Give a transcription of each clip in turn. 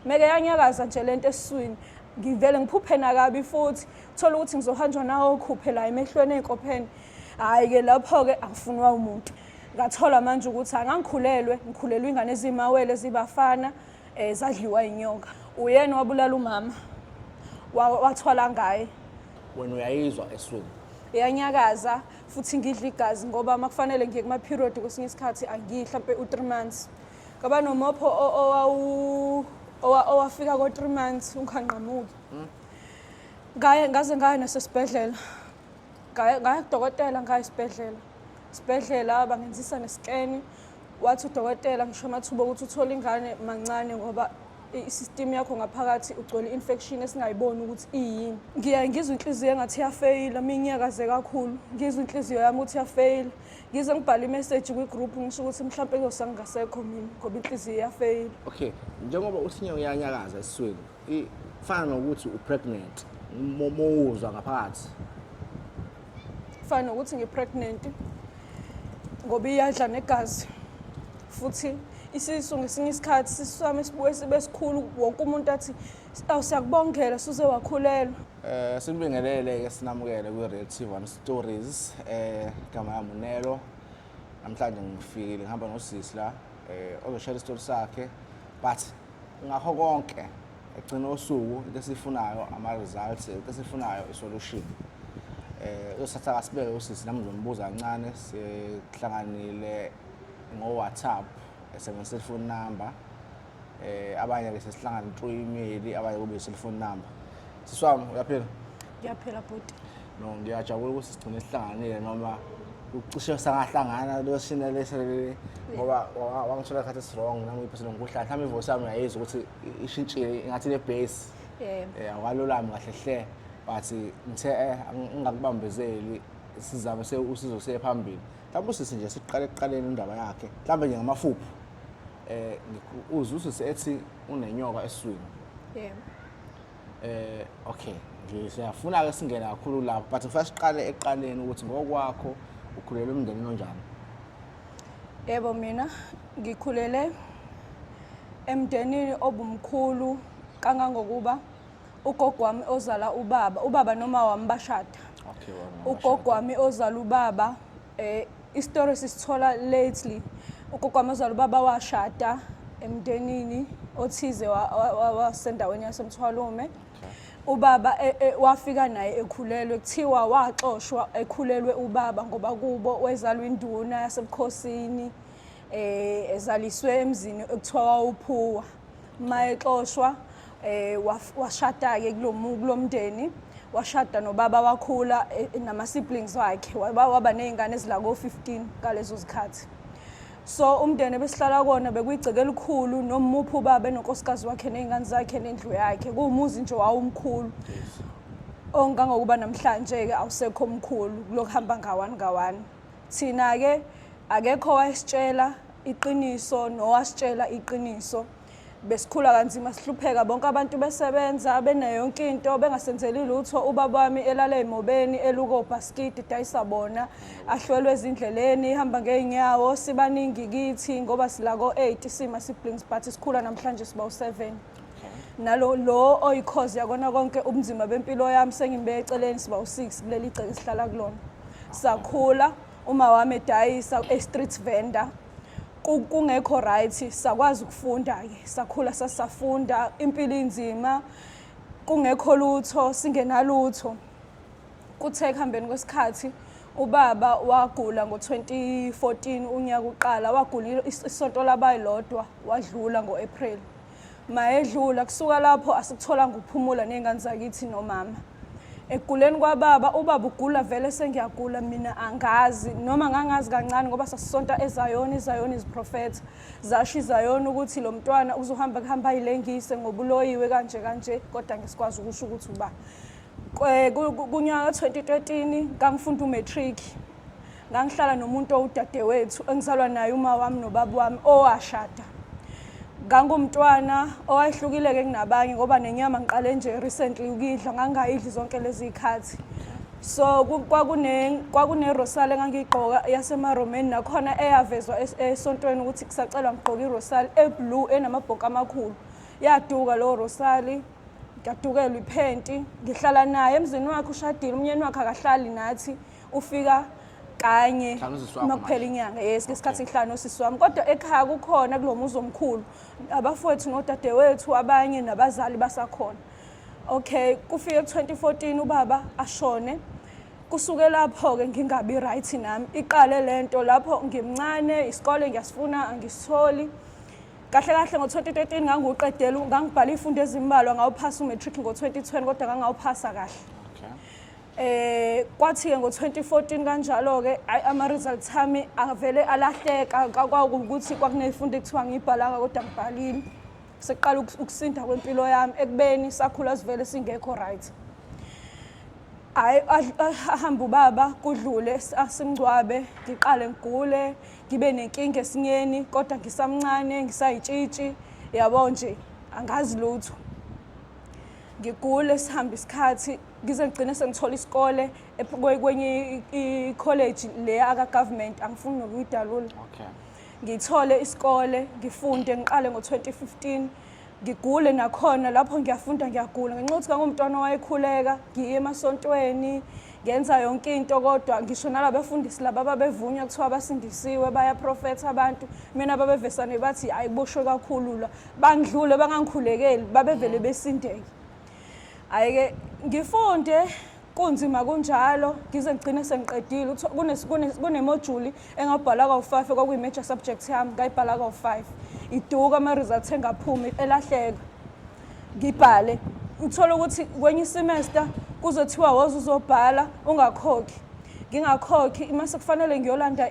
meke yanyakaza nje lento eswini ngivele ngiphuphe nakabi futhi thola ukuthi ngizohanjwa nawo khuphe la emehlweni ey'nkopheni hhayi ke lapho-ke akufunwa umuntu ngathola manje ukuthi angangikhulelwe ngikhulelwe ingane ezimawele zibafana um eh, zadliwa inyoka uyena wabulala umama wathwala ngaye wena uyayizwa eswini yanyakaza futhi ngidla igazi ngoba uma kufanele ngiye kuma-period kwesinye isikhathi angidli hlampe u-three months Kwaba nomopho o- owawu owa- owafika ko 3 months ungangqamuki. Ngaye ngaze ngaya nasesibhedlela. Ngaya ngaya kudokotela ngaya esibhedlela. Sibhedlela bangenzisa neskeni. Wathi udokotela ngisho amathuba ukuthi uthole ingane mancane ngoba i- i-system yakho ngaphakathi ugcwele infection esingayiboni ukuthi iyini. Ngiya ngizwa inhliziyo engathi iyafeyila, mina ngiyakaze kakhulu. Ngizwa inhliziyo yami ukuthi iyafeyila. ngize ngibhale imeseji kwi-group ngisho ukuthi mhlawumpe kuyosa ngingasekho mina ngoba inhliziyo iyafeyila okay njengoba uthi nyawo uyanyakaza esiswini i- fana nokuthi u-pregnant mo- mowuzwa ngaphakathi fana nokuthi ngi-pregnant ngoba iyadla negazi futhi isisu ngesinye isikhathi isisu sami sibuye sibe sikhulu wonke umuntu athi awu siyakubongela suze wakhulelwa Eh sinibingelele ke sinamukele kwi Real T1 Stories eh igama lami uNelo namhlanje ngifikile ngihamba nosisi la eh ozoshare isitori sakhe but ngakho konke egcina usuku into esifunayo ama results into esifunayo i solution eh usatha kasibeke usisi nami ngizombuza kancane sihlanganile ngo WhatsApp esebenzisa ifoni number eh abanye ke sesihlangana through email abanye kube cell phone number siswami uyaphila ngiyaphila bhuti no ngiyajabula ukuthi sigcine sihlanganile noma ucishe sangahlangana losina leselele ngoba wa- wangithola isikhathi esirong nami iphesile ngikuhlala mhlawumbe ivoice yami uyayizwa ukuthi i- ishintshile ingathi ne-base Eh, um awalulami kahle hle but ngithe eh ang- ngingakubambezeli sizame se- usizo siye phambili mhlawumbe usisi nje siqale ekuqaleni indaba yakhe mhlawumbe nje ngamafuphi eh uzwe usisi ethi unenyoka eswini yebo eh okay nje siyafuna ke singena kakhulu lapho but ngifuna siqale eqaleni ukuthi ngokwakho ukhulele umndeni onjani yebo mina ngikhulele emndenini obumkhulu kangangokuba ugogo wami ozala ubaba ubaba noma wami bashada okay ugogo wami ozala ubaba Eh istory sisithola lately ugogamazala ubaba washada emndenini othize wasendaweni yasemthwalume ubaba e, e, wafika naye ekhulelwe kuthiwa waxoshwa ekhulelwe ubaba ngoba kubo wezalwa induna yasebukhosini eh ezaliswe emzini ekuthiwa wawuphuwa uma exoshwa eh washada ke kulomu kulomndeni washada nobaba wakhula eh, nama siblings wakhe waba waba nezingane ezila ko 15 kalezo zikhathi so umndeni besihlala kona bekuyigceke elikhulu nomuphi ubaba enonkosikazi wakhe nezingane zakhe nendlu yakhe kuwumuzi nje wawumkhulu ongangokuba namhlanje ke awusekho omkhulu kulokuhamba ngawani ngawani Thina-ke akekho owayesitshela iqiniso nowasitshela iqiniso. Besikhula kanzima sihlupheka bonke abantu besebenza benayo yonke into bengasenzeli lutho ubaba wami elala emobeni eluko bhaskidi dayisa bona ahlwelwe ezindleleni ihamba ngeenyawo sibaningi kithi ngoba silako 8 sima siblings but sikhula namhlanje siba u7 nalo lo oyikhozi yakona konke ubunzima bempilo yami sengimbeke eceleni siba u-six kuleli gceke sihlala kulona sakhula uma wami edayisa e-street vendor ku- kungekho right sakwazi ukufunda-ke sakhula sasafunda impilo inzima kungekho lutho singenalutho kuthe ekuhambeni kwesikhathi ubaba wagula ngo-2014 unyaka uqala wagula is- isonto labayi lodwa wadlula ngo-april Mayedlula kusuka lapho asikutholanga ukuphumula nezingane zakithi nomama. Ekuguleni kwababa ubaba ugula vele sengiyagula mina angazi noma ngangazi kancane ngoba sasisonta ezayoni izayoni iziprofetha zasho izayoni ukuthi lo mntwana uzohamba kuhamba ayilengise ngobuloyiwe kanje kanje kodwa ngisikwazi ukusho ukuthi uba kunyaka 2013 ngangifunda umatric ngangihlala nomuntu owudadewethu engizalwa naye uma wami nobaba wami owashada ngangumntwana owayehlukile-ke kunabanye ngoba nenyama ngiqale nje recently ukuyidla ngangingayidli zonke lezi y'khathi so kwakunerosali engangiyigqoka yasemaromeni nakhona eyavezwa esontweni ukuthi kusacelwa ngigqoke irosali eblue enamabhonka amakhulu yaduka lowo rosali ngiyadukelwa iphenti ngihlala naye emzini wakhe ushadile umnyeni wakhe akahlali nathi ufika kanye Hlanu usisi wakho makuphela manje. inyanga yes ngesikhathi ngihlanu usisi wami kodwa ekhaya kukhona kulo muzi omkhulu abafowethu nodadewethu abanye nabazali basakhona okay kufike ku-2014 ubaba ashone kusuke lapho-ke ngingabi right nami iqale le nto lapho ngimncane isikole ngiyasifuna angisitholi kahle kahle ngo-2013 ngangiwuqedela ngangibhala iy'fundo ezimbalwa ngawuphasa umatric ngo-2020 kodwa ngangawuphasa kahle Okay. Eh kwathi ke ngo2014 kanjalo ke ama results ami avele alahleka kwakuwukuthi kwakunefunda ekuthiwa ngibhalanga kodwa ngibhalile. Seqala ukusinda kwempilo yami ekubeni sakhula sivele singekho right. hayi ahambe ubaba kudlule asimngcwabe ngiqale ngigule ngibe nenkinga esinyeni kodwa ngisamncane ngisayitshitshi yabo nje angazi lutho ngigule sihambe isikhathi ngize ngigcine sengithola isikole kwenye ikholeji le aka-government angifuni nokuyidalula okay ngithole isikole ngifunde ngiqale ngo-2015 ngigule nakhona lapho ngiyafunda ngiyagula ngenxa yokuthi kangumntwana owayekhuleka ngiye emasontweni ngenza yonke into kodwa ngisho nalabafundisi laba babevunywa kuthiwa basindisiwe bayaprofetha abantu mina babevesane bathi ayikuboshwe kakhulu la bangidlule bangangikhulekeli babevele besindeke Ayike ngifunde kunzima kunjalo ngize ngigcine sengiqedile kunemojuli engabhala kawu-five kwakuyi-major subject yami ngayibhala kawu-five iduka ama-results engaphumi elahleka ngibhale uthole ukuthi kwenye isemester kuzothiwa woze uzobhala ungakhokhi ngingakhokhi uma sekufanele ngiyolanda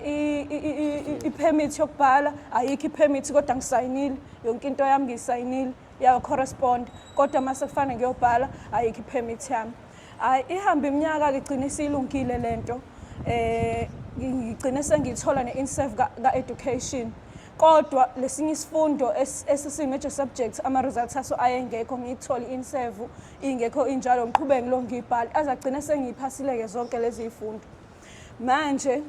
i-permit yokubhala ayikho i-permit kodwa ngisayinile yonke into yami ngiyisayinile yacorrespond kodwa uma sekufane ngiyobhala ayikho i-permit yami hayi ihamba iminyaka-ke igcine isiyilungile le nto um eh, ngigcine sengiyithola ne-inserve ka-education ka kodwa lesinye isifundo esisi-major subject ama-results aso ayengekho ngiyithole insevu ingekho injalo ngiqhubeke ngilo ngiyibhale aze agcine sengiyiphasile-ke zonke lezi y'fundo manje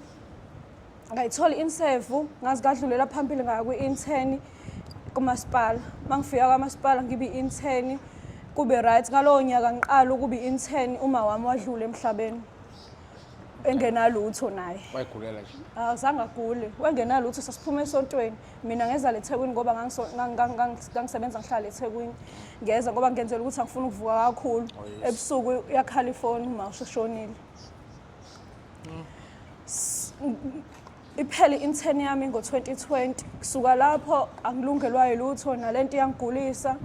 ngayithola insevu ngazi kadlulela phambili ngaya kwi-inteni kumasipala uma ngifika kwamasipala ngibe i-inteni kube right ngalowo nyaka ngiqala ukuba i-inteni uma wami wadlula emhlabeni engenalutho naye wayigulela nje azange agule wengenalutho sasiphume esontweni mina ngeza lethekwini ngoba ngangisebenza ngihlala ethekwini ngeza ngoba ngenzela ukuthi angifuni ukuvuka kakhulu ebusuku yakhala ifoni uma usheshonile iphele i-intern yami ngo-2020 kusuka lapho angilungelwayo lutho nalento iyangigulisa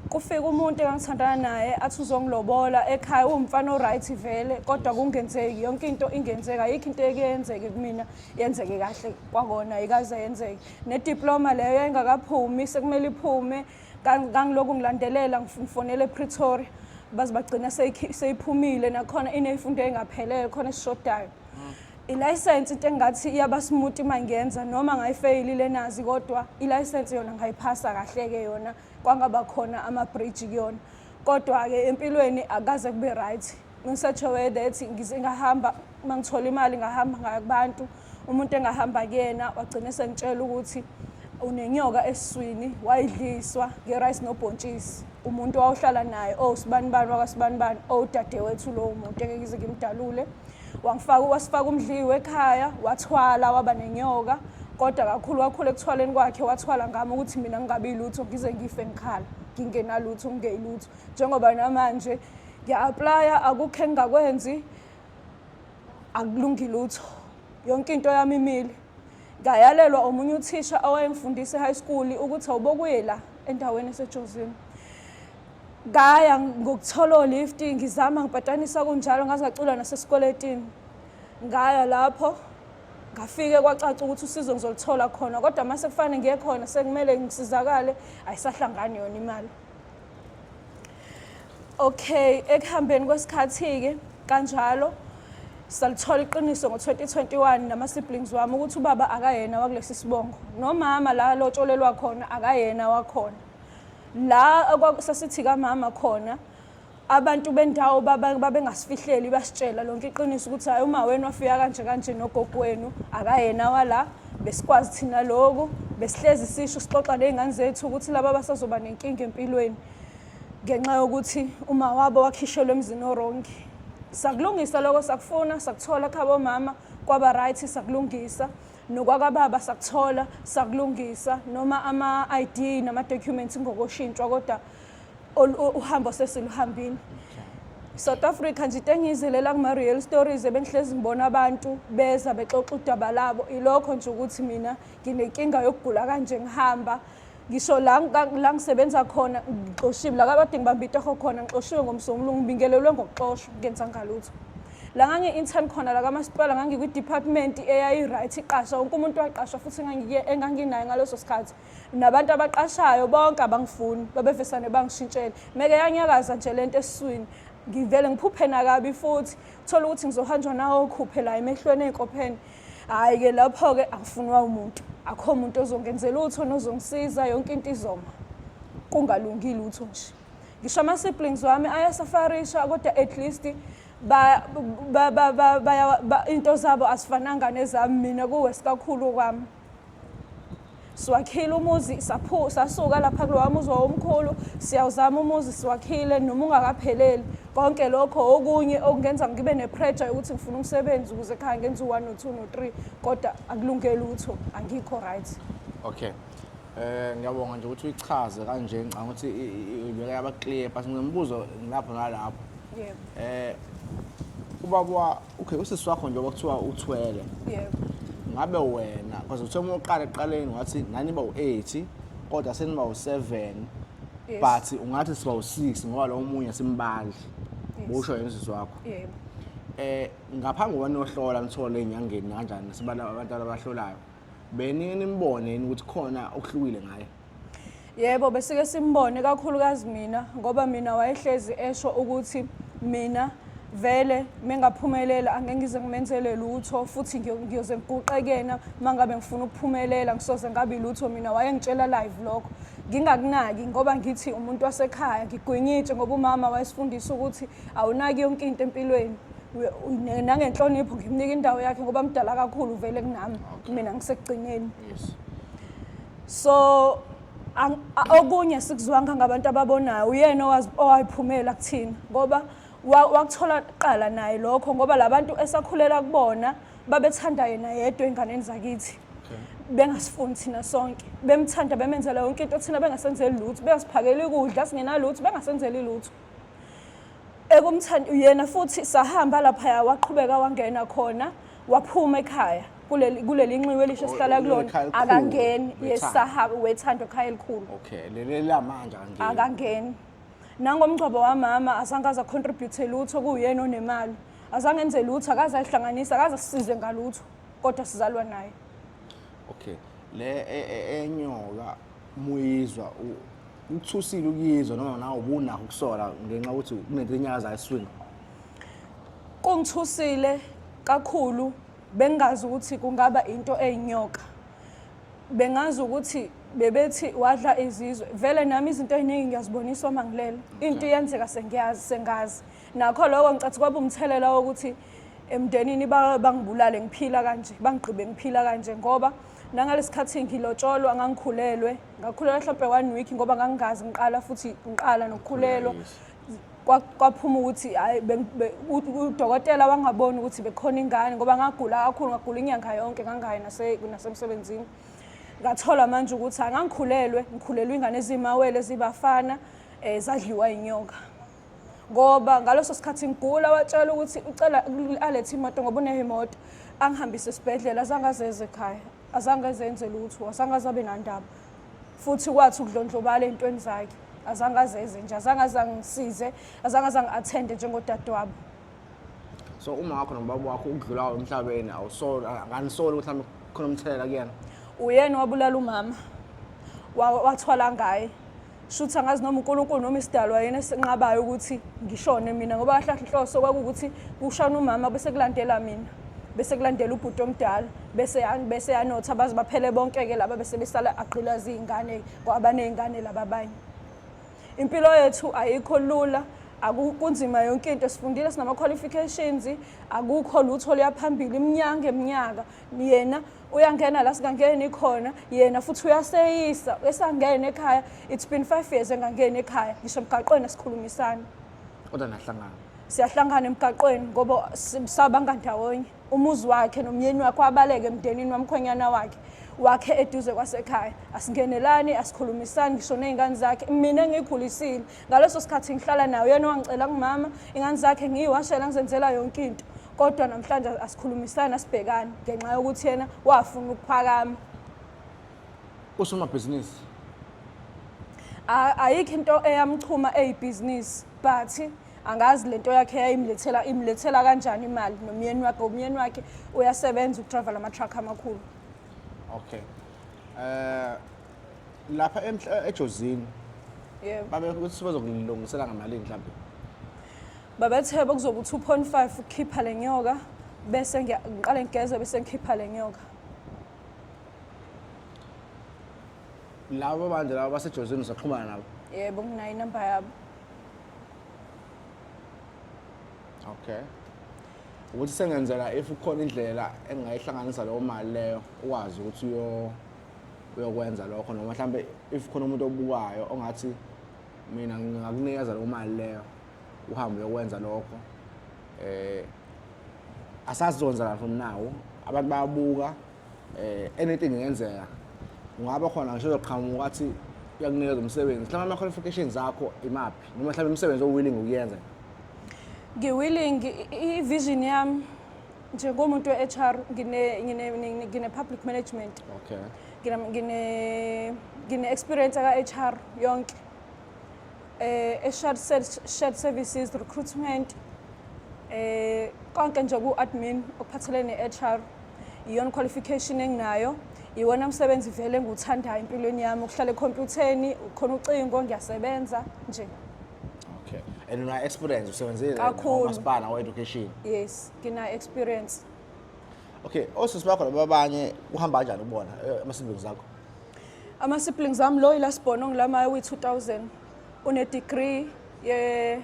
kufika umuntu engangithandana naye athi uzongilobola ekhaya uwumfana o-right vele kodwa kungenzeki yonke into ingenzeka ayikho into ekuyenzeke kumina yenzeke kahle kwakona ayikaze yenzeke nediploma leyo yayingakaphumi sekumele iphume Kangiloku ngilandelela ngifonela ePretoria baze bagcina seyiphumile nakhona ineyifundo engaphelele khona esishodayo mm. ilayisensi into engathi iyabasimuti uma ngiyenza noma ngayifeyili lenazi kodwa ilayisensi yona ngayiphasa kahle-ke yona kwangaba khona ama-bridge kuyona kodwa-ke empilweni akaze kube right ngisajowede ethi ngize ngahamba uma ngithola imali ngahamba ngaya kubantu umuntu engahamba kuyena wagcine sengitshela ukuthi unenyoka esiswini wayidliswa nge-rice nobhontshisi umuntu wawuhlala naye o oh, sibanibani wakasibanibani o oh, dadewethu lowo muntu engeke ngize ngimdalule wangifaka wasifaka umdliwe ekhaya wathwala waba nenyoka kodwa kakhulu kakhulu ekuthwaleni kwakhe wathwala ngami ukuthi mina ngingabi lutho ngize ngife ngikhala ngingenalutho ngingeyilutho njengoba namanje ngiya-aplaya akukho engingakwenzi akulungi lutho yonke into yami imile ngayalelwa omunye uthisha owayengifundisa e-high school ukuthi awubokuye la endaweni esejozini ngaya ngokuthola o-lift ngizama ngipatanisa kunjalo ngaze ngacula nasesikweletini ngaya lapho ngafike kwacaca ukuthi usizo ngizoluthola khona kodwa uma sekufanele ngiye khona sekumele ngisizakale ayisahlangani yona imali Okay, ekuhambeni kwesikhathi-ke kanjalo salithola iqiniso ngo-2021 nama-siblings wami ukuthi ubaba akayena wakulesi sibongo nomama la lotsholelwa khona akayena wakhona la sasithi kamama khona abantu bendawo babengasifihleli basitshela lonke iqiniso ukuthi hayi uma wenu wafika kanje kanje nogogo wenu akayena wala besikwazi thina loku besihlezi sisho sixoxa ney'ngane zethu ukuthi laba basazoba nenkinga empilweni ngenxa yokuthi uma wabo wakhishelwe emzini orongi sakulungisa lokho sakufuna sakuthola khaba omama kwaba right sakulungisa nokwakababa sakuthola sakulungisa noma ama-id nama-documents ngokoshintshwa kodwa uhambo sesiluhambini South Africa nje tengizelela kuma real stories ebengihlezi ngibona abantu beza bexoxa udaba labo ilokho nje ukuthi mina nginenkinga yokugula kanje ngihamba ngisho la la ngisebenza khona ngixoshiwe la kade ngibambe itoho khona ngixoshiwe ngomsungulu ngibingelelwe ngokuxoshwa ngenza ngalutho la ngangi-intern khona la kamasipala ngangikwi-department eyayi-right iqasha wonke umuntu waqashwa futhi enganginayo ngaleso sikhathi nabantu abaqashayo bonke abangifuni babevesane bangishintshela meke yanyakaza nje lento esiswini ngivele ngiphuphe nakabi futhi thola ukuthi ngizohanjwa nawo okhuphe la emehlweni ey'nkopheni hhayi ke lapho-ke angifunwa umuntu akho muntu ozongenza lutho nozongisiza yonke into izoma kungalungi lutho nje ngisho ama-siblings wami ayasafarisha kodwa at least into zabo asifananga nezami mina kuwe sikakhulu kwami siwakhile umuzi sasuka lapha kulowa muzi wawomkhulu siyawuzama umuzi siwakhile noma ungakapheleli konke lokho okunye okungenza ngibe nepressure yokuthi ngifuna umsebenzi ukuze khaya ngenza u-one no-two no-three kodwa akulungeli utho angikho right okay Eh ngiyabonga nje ukuthi uyichaze kanje ngicanga ukuthi ibeka yaba clear but ngimbuzo lapho nalapho. Yebo. Eh ubaba Okay, usisi wakho njengoba kuthiwa uthwele. Yebo. Ngabe wena because uthe uma uqala eqaleni wathi nani ba u8 kodwa seniba u7 Yes. but ungathi siba u6 ngoba lo omunye simbandla. Yes. Usho yena usisi wakho. Yebo. Eh ngaphambi kokuba niyohlola nithole enyangeni kanjani sibala abantu abahlolayo. Benike nimbone yini ukuthi khona okuhlukile ngaye. Yebo besike simbone kakhulukazi mina ngoba mina wayehlezi esho ukuthi mina vele mengaphumelela angeke ngize ngimenzele lutho futhi ngiyoze ngiguqe kuyena uma ngabe ngifuna ukuphumelela ngisoze ngabi lutho mina wayengitshela live lokho ngingakunaki ngoba ngithi umuntu wasekhaya ngigwinyitshe ngoba umama wayesifundisa ukuthi awunaki yonke into empilweni nangenhlonipho ngimnika indawo yakhe ngoba mdala kakhulu vele kunami mina ngisekugcineni so ang- a- okunye sikuzwanga ngabantu ababonayo uyena owazi- owayiphumela kuthina ngoba wa- wakuthola kuqala naye lokho ngoba labantu esakhulela kubona babethanda yena yedwa enganeni zakithi bengasifuni thina sonke bemthanda bemenzela yonke into thina bengasenzeli lutho bengasiphakeli ukudla singenalutho bengasenzeli lutho ekumthanda uyena futhi sahamba laphaya waqhubeka wangena khona waphuma ekhaya kuleli kuleli nxiwe elisho Oh, sihlala kulona ekhaya elikhulu, akangeni wethando. yesaha wethando ekhaya elikhulu okay leli lamanje angeke akangeni nangomngcwabo wamama azange aza contribute lutho kuyena onemali azange enze lutho akaze ayihlanganisa akaze asize ngalutho kodwa sizalwa naye okay le e- e- enyoka muyizwa u- ukuthusile ukuyizwa noma nawe ubunakho ukusola ngenxa ukuthi kunento enyakazayo eswini Kungithusile kakhulu bengazi ukuthi kungaba into eyinyoka. Bengazi ukuthi bebethi wadla izizwe vele nami izinto eziningi ngiyaziboniswa uma ngilele into iyenzeka sengiyazi sengazi nakho lokho ngicathi kwaba umthelela wokuthi emndenini bangibulale ngiphila kanje bangigqibe ngiphila kanje ngoba nangalesikhathi ngilotsholwa ngangikhulelwe ngakhulelwa mhlawumbe one week ngoba ngangingazi ngiqala futhi ngiqala nokukhulelwa kwaphuma ukuthi hayi udokotela wangaboni ukuthi bekhona ingane ngoba ngagula kakhulu ngagula inyanga yonke ngangayi nasemsebenzini ngathola manje ukuthi angangikhulelwe ngikhulelwe ingane ezimawele zibafana um eh, zadliwa yinyoka ngoba ngaleso sikhathi ngigula watshela ukuthi ucela alethe imoto ngoba uneyo imoto angihambise esibhedlela azange azeze ekhaya azange ezenze lutho azange azabe nandaba futhi kwathi ukudlondlobala ey'ntweni zakhe azange azeze nje azange azangisize azange azangi-athende njengodadewabo so uma wakho nobaba wakho ukudlulayo emhlabeni awusoli anganisoli ukuthi mhlawumbe khona umthelela kuyena uyena wabulala umama wathwala ngaye shuthi angazi noma uNkulunkulu noma isidalwa yena esinqabayo ukuthi ngishone mina ngoba kahle inhloso kwakuwukuthi kushana umama bese kulandela mina bese kulandela ubhuti omdala bese bese yanotha baze baphele bonke ke laba bese besala agqilaza izingane kwabanezingane laba abanye impilo yethu ayikho lula akunzima yonke into sifundile sinama qualifications akukho lutho liyaphambili iminyanga eminyaka yena uyangena la singangeni khona yena futhi uyaseyisa esangene ekhaya it's been five years engangeni ekhaya ngisho emgaqweni asikhulumisani kodwa nahlangana siyahlangana emgaqweni ngoba sabanga ndawonye umuzi wakhe nomyeni wakhe wabaleke emndenini wamkhwenyana wakhe wakhe eduze kwasekhaya asingenelani asikhulumisani ngisho ney'ngane zakhe mina engiyikhulisile ngaleso sikhathi ngihlala naye uyena owangicela kumama ingane zakhe ngiyiwashela ngizenzela yonke into kodwa namhlanje asikhulumisani asibhekani ngenxa yokuthi yena wafuna ukuphakama usomabhizinisi ayikho into eyamchuma eyibhizinisi but angazi lento yakhe yayimlethela imlethela kanjani imali nomyeni wakhe umyeni wakhe uyasebenza udrayiva lama-truck amakhulu okay um uh, lapha emhla ejozini yebo babe ukuthi bazokulungisela ngamalini mhlawumbe babethe bekuzoba u-2.5 ukukhipha le nyoka bese ngiya- ngiqale ngigeze bese ngikhipha le nyoka labo bantu labo basejozini usaxhumana nabo yebo nginayo inamba yabo okay ukuthi sengenzela if kukhona indlela engingayihlanganisa leyo mali leyo ukwazi ukuthi uyo uyokwenza lokho noma mhlawumbe if khona umuntu obukayo ongathi mina ngingakunikeza leyo mali leyo uhambe uyokwenza lokho eh asazi zonzakala from now abantu bayabuka eh anything ingenzeka ungaba khona ngisho uzoqhamuka athi uyakunikeza umsebenzi mhlawumbe ama-qualifications akho imaphi noma mhlawumbe imisebenzi owilling ukuyenza ngiwilling i-vision yami njengomuntu we-HR ngine-public ngine, ngine management okay. ngine-experience ngine aka-HR yonke eh, e-shared shared services recruitment eh, konke nje ku-admin okuphathelene ne-HR iyona qualification enginayo iwona msebenzi vele engiwuthandayo empilweni yami ukuhlala ekhompyutheni khona ucingo ngiyasebenza nje okay and una experience usebenzile kakhulu masipala wa education yes ngina experience okay osisi bakho laba abanye kuhamba kanjani kubona eh, ama siblings akho ama siblings am lo ilasibhono ngilamaye uyi 2000 une degree ye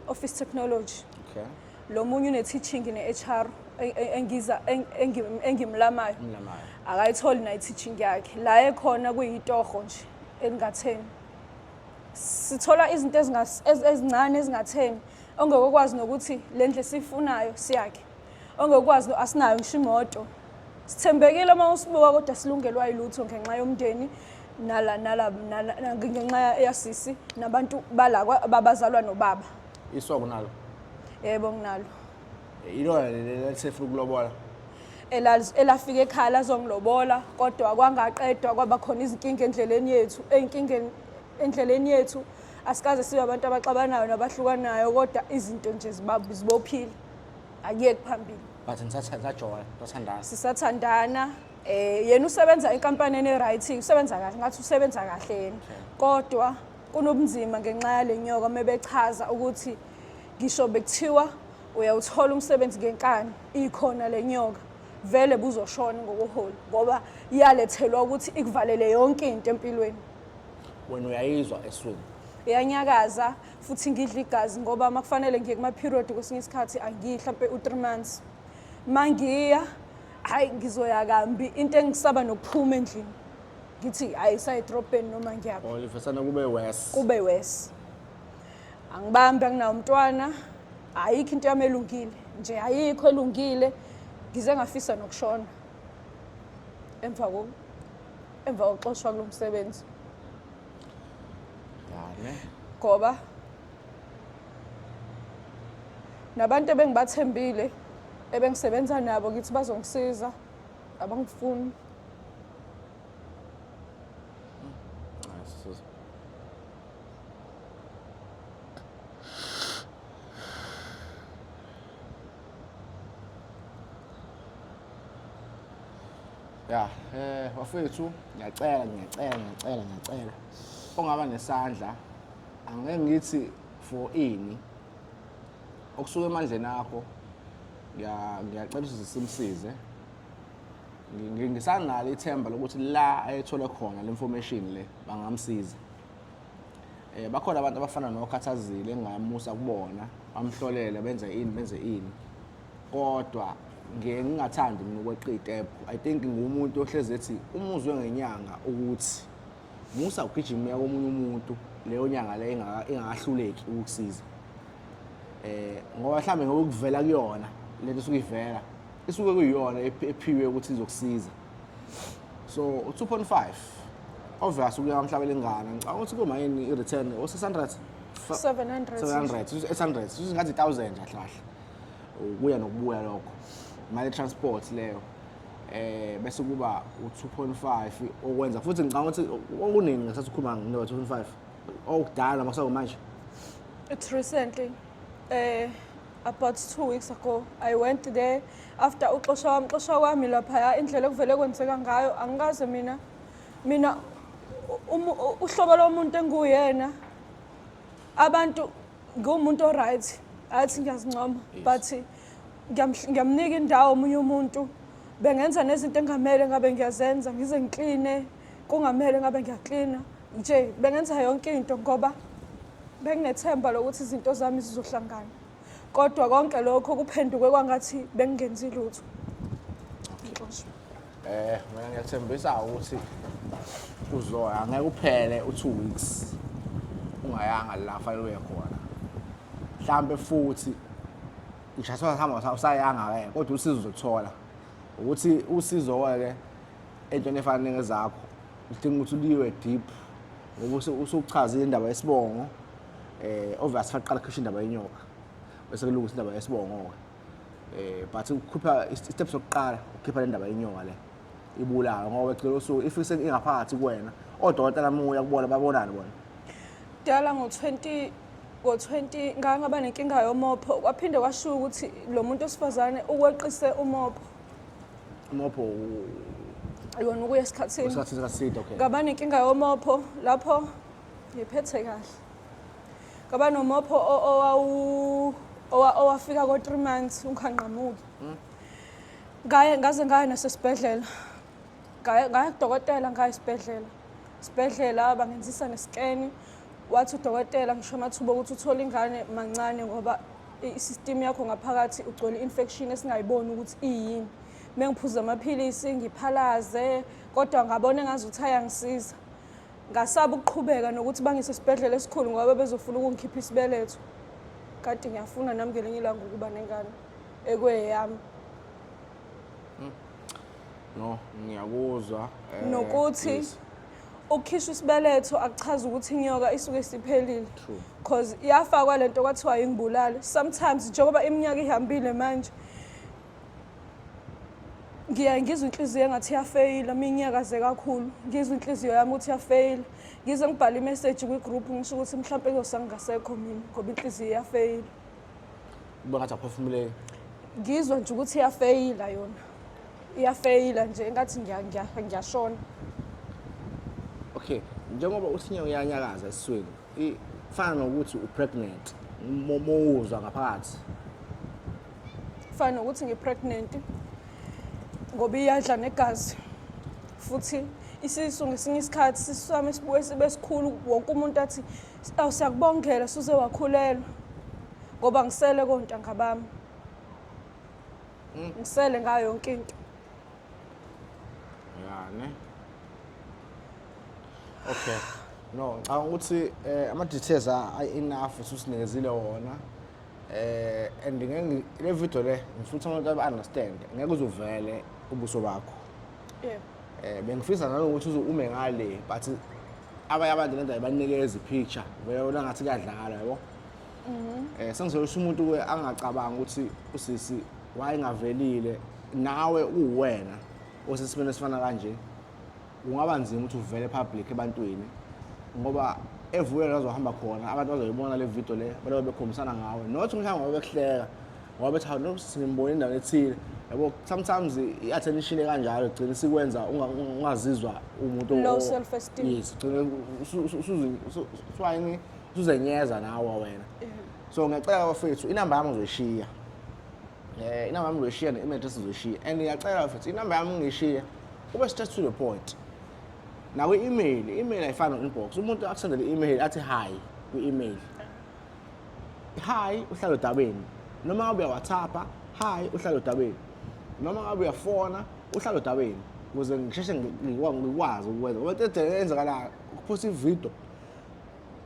office technology okay lo munye une teaching ne HR e- e- engiza eng- engim- engimlamayo mlamayo akayitholi nayo i-teaching yakhe la ekhona kuyitoho nje elingatheni sithola izinto ezingas- ez- ezincane ezingatheni ongekokwazi nokuthi le ndlu esiyifunayo siyakhe ongekwazi asinayo ngisho imoto sithembekile uma usibuka kodwa silungelwa yilutho ngenxa yomndeni nala nala ngenxa yasisi nabantu bala babazalwa nobaba iso kunalo yebo nginalo ilona lelesefuna ukulobola elafika ekhaya lazongilobola kodwa kwangaqedwa kwaba khona izinkinga endleleni yethu ey'nkingeni endleleni yethu asikaze sibe abantu abaxabanayo nabahlukanayo kodwa izinto nje zibophile akuyeki phambili but nisajola sathandana sisathandana eh yena usebenza enkampanini e-right usebenza kahle ngathi usebenza kahle yena kodwa kunobunzima ngenxa yale nyoka mebechaza ukuthi ngisho bekuthiwa uyawuthola umsebenzi ngenkani ikhona le nyoka vele buzoshona ngokuholi ngoba iyalethelwa ukuthi ikuvalele yonke into empilweni wena uyayizwa eswini iyanyakaza futhi ngidla igazi ngoba uma kufanele ngiye kuma-period kwesinye isikhathi angiyi hlampe u-three months uma ngiya hhayi ngizoya kambi into engisaba nokuphuma endlini ngithi hhayi sayidrobheni noma ngiyaphi or livesana kube wes kube wes angibambi anginawo umntwana ayikho into yami elungile nje ayikho elungile ngize ngafisa nokushona emva koku emva kokuxoshwa kulo msebenzi ngane ngoba nabantu ebengibathembile ebengisebenza nabo ngithi bazongisiza abangifuni ya eh bafethu ngiyacela ngiyacela ngiyacela ngiyacela ongaba nesandla angeke ngithi for ini okusuka emandleni akho ngiya- ngiyacela ukuthi simsize Ngi- ngi- ngisanalo ithemba lokuthi la ayethole khona le information le bangamsiza eh bakhona abantu abafana nokhathazile engamusa kubona bamhlolele benze ini benze ini kodwa ngiye ngingathandi mina ukweqa iy'tebhu i think ngumuntu ohlezi ethi uma uzwe ngenyanga ukuthi musa ugijima uya komunye umuntu leyo nyanga le ingakahluleki ukukusiza eh ngoba mhlambe ngoba kuvela kuyona lento esuke ivela isuke kuyiyona ephiwe ukuthi izokusiza so u-2.5 obvious ukuya kwamhlabela ingane ngicabanga ukuthi kumayini i-return o-600 700 700 800 singathi 1000 kahle kahle ukuya nokubuya lokho imali transport leyo eh bese kuba u2.5 okwenza futhi ngicabanga ukuthi okuningi ngesathi ukhuluma ngo 2.5 okudala makusako manje it's recently eh about 2 weeks ago i went there after uxosha wami xosha kwami lapha indlela ekuvele kwenzeka ngayo angikaze mina mina uhlobo lomuntu enguyena abantu ngumuntu oright athi ngiyazincoma but ngiyamnika indawo omunye umuntu bengenza nezinto engamele ngabe ngiyazenza ngize ngikline kungamele ngabe ngiyaklina nje bengenza yonke into ngoba benginethemba lokuthi izinto zami zizohlangana kodwa konke lokho kuphenduke kwangathi bengingenzi lutho Eh mina ngiyathembisa ukuthi uzoya angeke uphele u2 weeks ungayanga la fanele uye khona. Mhlambe futhi ngishaswa sihamba usayanga ke kodwa usizo uzothola. Ukuthi usizo ke entweni efana nengezakho udinga ukuthi uliwe deep ngoba usuchazile indaba yesibongo eh obvious faqala khishwa indaba yenyoka bese kulungisa indaba yesibongo ke. eh but ukhupha isteps sokuqala ukhipha le ndaba yenyoka le ibulayo ngoba ecela usuku if ingaphakathi kuwena odokotela muya kubona babonani bona dala ngo-20 ngo-20 ngake ngaba nenkinga yomopho kwaphinde kwashiwo ukuthi lo muntu wesifazane ukweqise umopho umopho yona ukuya esikhathini esikhathini eside okay ngaba nenkinga yomopho lapho ngiphethe kahle Kaba nomopho owawu owafika ko 3 months unghanqamuki. Hmm? Ngaye ngaze ngaya nasesibhedlela. Ngaya ngaya kudokotela ngaya esibhedlela. Sibhedlela bangenzisa ngesikeni. Wathi udokotela ngisho amathuba ukuthi uthole ingane mancane ngoba i-system yakho ngaphakathi ugcwele infection esingayiboni ukuthi iyini. Mengiphuza amaphilisi ngiphalaze kodwa ngabona ngazi ukuthi ayangisiza. Ngasaba ukuqhubeka nokuthi bangise esibhedlela esikhulu ngoba bezofuna ukungikhipha isibeletho. Kade ngiyafuna nami ngelinye ilanga ukuba nengane ekweyami. Hmm. No, ngiyakuzwa. Eh, Nokuthi yes. ukukhishwa isibeletho akuchaza ukuthi inyoka isuke isiphelile cause iyafakwa lento kwathiwa ingibulale sometimes njengoba iminyaka ihambile manje ngiyaye ngizwe inhliziyo engathi iyafeyila uma inyakaze kakhulu ngizwe inhliziyo yami ukuthi iyafeyila ngize ngibhale imeseji kwi-group ngisho ukuthi mhlawumpe kuzosa ngingasekho mina ngoba inhliziyo iyafeyila uba ngathi aphefumuleki ngizwa nje ukuthi iyafeyila yona iyafeyila nje engathi ngiyashona okay njengoba uthinye uyanyakaza esiswini ifana nokuthi upregnant mowuzwa ngaphakathi kufana nokuthi ngi-pregnant ngoba iyadla negazi futhi isisu ngesinye isikhathi isisu sami sibuye sibe sikhulu wonke umuntu athi awu siyakubongela suze wakhulelwa ngoba ngisele kontanga bami hmm. ngisele ngayo yonke into yani okay no ngicabanga ukuthi eh, ama-details a-enough ususinikezile wona eh and ngeke le video le ngifutha abantu aba understand ngeke uzuvele ubuso bakho yebo eh bengifisa nanokuthi uze ume ngale but abanye abantu lento ayibanikeza ipicture beyona ngathi kuyadlala yabo mhm. eh sengizoyisha umuntu ke angacabanga ukuthi usisi wayengavelile nawe uwena osesimene sifana kanje kungaba nzima ukuthi uvele public ebantwini ngoba evuke kazohamba khona abantu bazoyibona le video le balobe bekhombisana ngawe not mhlawumbe ngoba bekuhleka ngoba bethi hawu nokuthi singimbona endaweni ethile yabo sometimes i-attention ekanjalo gcina isikwenza ungazizwa umuntu low self esteem yes gcina usuzini usuzenyeza nawe wena so ngiyacela bafethu inamba yami uzoyishiya um inamba yami uzoyishiya ne-email address uzoyishiya and ngiyacela bafethu inamba yami ngiyishiya Ube straight to the point. Nawe email, email ayifani inbox. Umuntu akusendele email athi hi kwi email. Hi uhlalo dabeni. Noma ngabe WhatsApp, hi uhlalo dabeni. Noma ngabe uyafona uhlalo dabeni. Ukuze ngisheshe ngikwazi ukwenza. Ngoba into enzakalayo ukuphosa ivideo.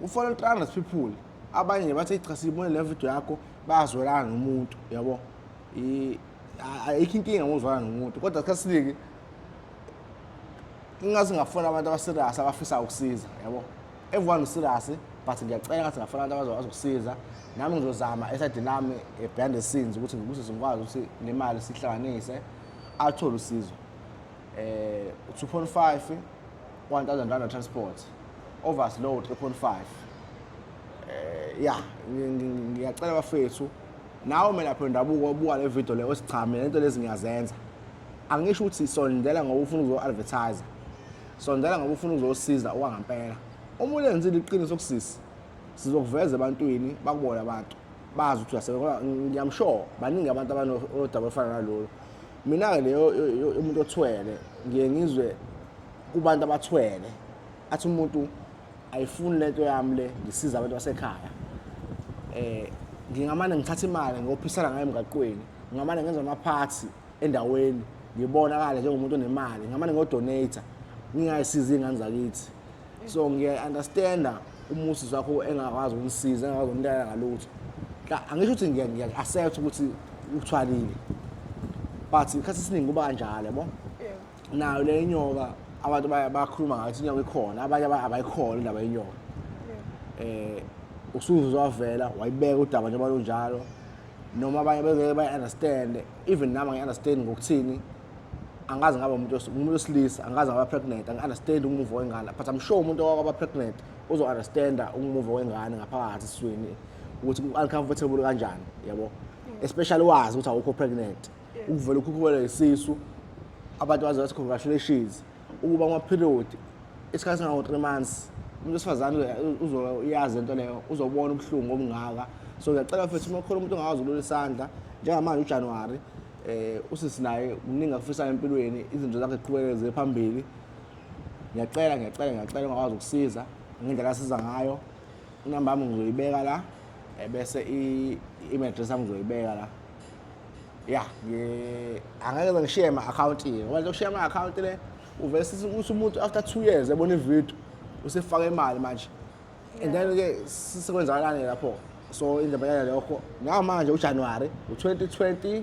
Ufona 300 people. Abanye bathi cha sibone le video yakho bazwelana nomuntu, yabo? ayikho inkinga ngozwana nomuntu kodwa isikhathi esiningi ingathi ngafuna abantu abaserious abafisa ukusiza yabo everyone userious but ngiyacela ngathi ngafuna abantu abazo azokusiza nami ngizozama eside lami eh, behind the scenes ukuthi ngikuze ngikwazi ukuthi le mali sihlanganise athole usizo eh 2.5 1000 rand transport overload 3.5 eh ya ngiyacela bafethu Nawe umelaphi wendabuko obuka le video le osichame lento lezi ngiyazenza. Angisho ukuthi sondela ngoba ufuna ukuzo advertise. Sondela ngoba ufuna ukuzosiza okwangampela. Uma ulenzile iqiniso kusisi sizokuveza ebantwini bakubona abantu bazi ukuthi uyasebenza ngiyamsure baningi abantu abanodaba olufana nalolu mina-ke leyo umuntu othwele ngiye ngizwe kubantu abathwele athi umuntu ayifuni lento yami le ngisiza abantu basekhaya eh ngingamane ngithatha imali ngiyophisana ngayo emgaqweni ngingamane ngenza amaphathi endaweni ngibonakale njengomuntu onemali ngingamane ngiyodonate ngingayisizi ingane zakithi so ngiya-understanda umusi wakho engakwazi ukunisiza engakwazi ukunitana ngalutho angisho ukuthi ngiya-accept ukuthi uthwalile but isikhathi esiningi kuba kanjalo yabo nayo le inyoka abantu baya- bakhuluma ngathi inyoka ikhona abanye aba- abayikhona indaba yenyoka eh usuze wavela wayibeka udaba njengoba lunjalo noma abanye bengeke bayi-understand even nami angi-understand ngokuthini angazi ngaba umuntu wes- umuntu wesilisa angazi ngaba pregnant angi-understand umuva wengane but i'm sure umuntu owaba pregnant uzo-understanda umuva wengane ngaphakathi esiswini ukuthi u-uncomfortable kanjani yabo especially wazi ukuthi awukho pregnant ukuvela ukhukhuwela isisu abantu baze bathi congratulations ukuba ama-period isikhathi sangango-three months umuntu wesifazane uzoyazi into leyo uzobona ubuhlungu obungaka so ngiyacela futhi uma khona umuntu ongakwazi ukulula isandla njengamanje ujanuwari um eh, usisi naye kuningi akufisayo empilweni izinto zakhe ziqhubekele ziye phambili ngiyacela ngiyacela ngiyacela ungakwazi ukusiza ngendlela asiza ngayo inamba yami ngizoyibeka la eh, bese i-email address yami ngizoyibeka la ya angeke ze ngishiye ama-akhawunti ngoba nje ushiya ama-akhawunti le uvele sithi ukuthi umuntu after two years ebona ividiyo usefaka imali manje and then-ke sekwenzakalani lapho so indaba yale lokho ngamanje ujanuwari u-2025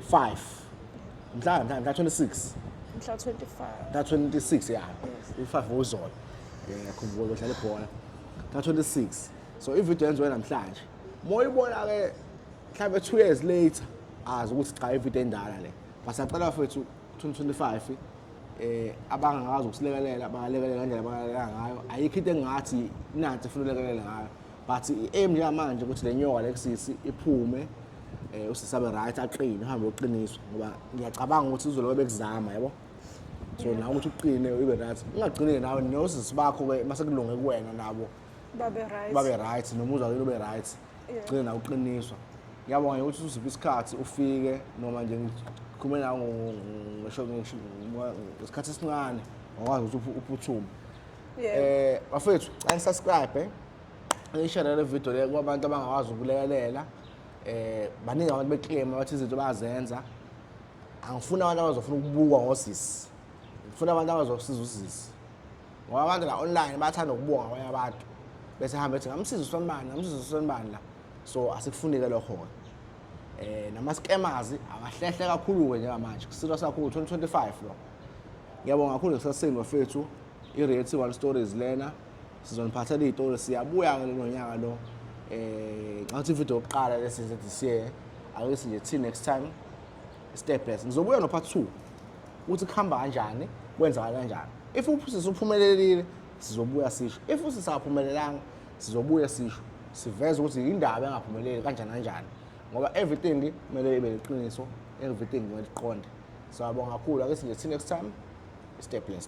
mhla mhla mhla 26 mhla 25 mhla 26 ya u-5 wozolo ngiyakhumbula udlala ibhola mhla 26 so ividiyo yenziwe namhlanje moyibona-ke mhlawumbe two years later azi ukuthi cha ividiyo endala le basacela fethu 2025 um eh, abangakwazi ukusilekelela bangalekelela ngendlela abangalekelela ngayo ayikho into engathi nansi funa ulekelele ngayo but i-aim njengamanje ukuthi le nyoka lekusisi iphume um usisabe right aqine uhambe uqiniswa ngoba ngiyacabanga ukuthi izolo bebekuzama yabo so nawe ukuthi uqine ibe right ungagcini-ke nawe nosisi bakho-ke masekulunge kuwena nabo babe right babe right nomuzwa wenu ube right ugcine nawe uqiniswa ngiyabonga nje ukuthi usiphi isikhathi ufike noma nje ngikhulume nawe ngisho ngesikhathi esincane ngakwazi ukuthi uphuthume eh bafethu xa nisubscribe eh? ngishere le video le kwabantu abangakwazi ukulekelela eh baningi abantu beclaim abathi izinto bazenza angifuni abantu abazofuna ukubukwa ngosisi ngifuna abantu abazosiza usisi ngoba abantu la online bayathanda ukubonga abanye abantu bese hambe ethi ngamsiza usonibani ngamsiza usonibani la so asikufunike lokho-ke eh nama-scammers abahlehle kakhulu-ke njengamanje kusilo sakhulu 2025 lo ngiyabonga kakhulu ngisasini bafethu i-reality one stories lena sizoniphathela iy'tori siyabuya-ke lelo nyaka lo eh ngathi ividiyo yokuqala lesize this year awesi nje till next time step by step ngizobuya no part 2 ukuthi kuhamba kanjani kwenzeka kanjani if uphusisa uphumelelile sizobuya sisho if usisaphumelelanga sizobuya sisho siveze ukuthi indaba engaphumeleli kanjani kanjani ngoba everything kumele ibe liqiniso everything kumele liqonde siyabonga kakhulu ake sinje see next time stay blessed